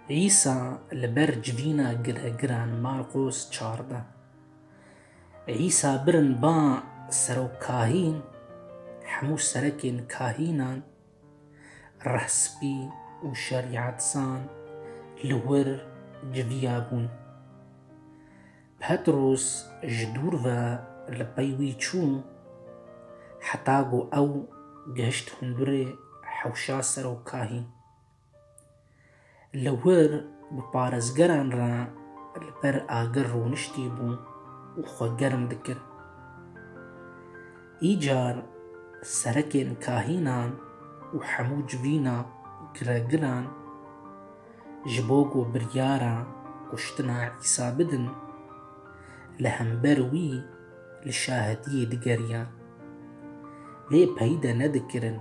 Îsa li ber civîna giregiran Marqos çardeh. Îsa birin ba serokkahîn, hemû serekên kahînan, rehspî û şerîetzan li wir civiya bûn. Petrûs ji dûr ve li pey wî çû, heta ku ew gihişt hundirê hewşa serokahî. Li wir bi parêzgeran re li ber agir rûniştî bû û xwe germ dikir. Îcar serekên kahînan û hemû civîna giregiran ji bo ku biryara kuştina Îsa bidin, li hember wî li şahidiyê digeriyan. Lê peyde nedikirin.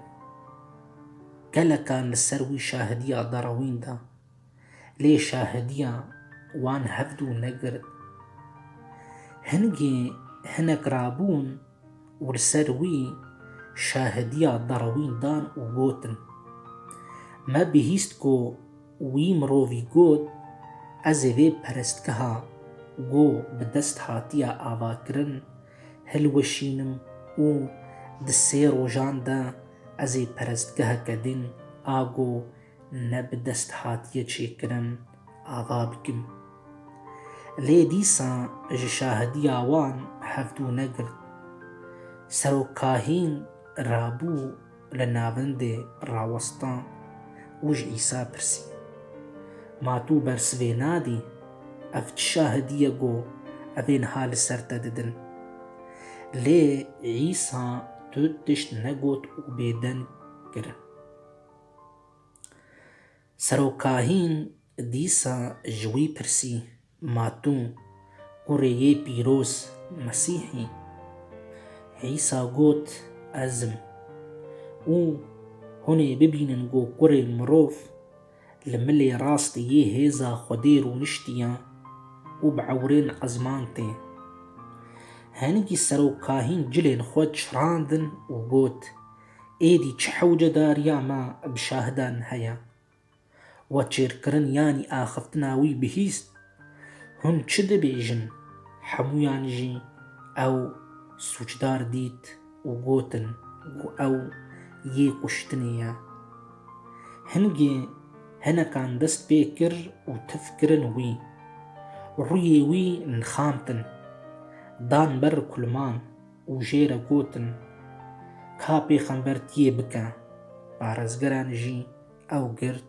Gelekan li ser wî şahidiya derewîn da. Lê şahidiya wan hevdu negirt. Hingê hinek rabûn û li ser wî şahidiya Darwîn dan û gotin, Me bihîst ku wî mirovî got, ez ê vê perestgeha ku bi dest hatiye avakirin hilweşînim û di sê rojan de ez ê perestgeheke din a ku Ne bi dest hatiye çêkirin ava bikim. Lê dîsa ji şahidiya wan hevdû negirt. Serok Kahîn rabû li navendê rawesta û ji Îsa pirsî, Ma tu bersivê nadî? Ev çi şahidî ye ku ev ên ha li ser te didin? Lê Îsa tu tişt negot û bêdeng kir. Serokahîn dîsa ji wî pirsî, Ma tu kurê yê pîroz Mesîh î? Îsa got, Ez im. Û hûn ê bibînin ku Kurê Mirov li milê rastî yê hêza Xwedê rûniştiye û bi ewrên ezman tê. Hingî serokahîn cilên xwe çirandin û got, Êdî çi hewcedariya me bi şahidan heye? We çêrkirin yanî axiftina wî bihîst? Hûn çi dibêjin? Hemûyan jî ew sûcdar dît û gotin ku ew yê kuştinê ye. Hingê hinekan dest pê kir û tif kirin wî. Rûyê wî nixantin. Dan ber kulman. Û jê re gotin, Ka pêxember tu yê bike. Parêzgeran jî ew girt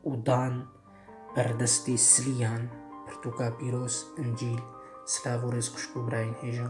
û dan ber destê silîyan, pirtûka pîroz, Încîl, silav û rêz xwişk û birayên hêja.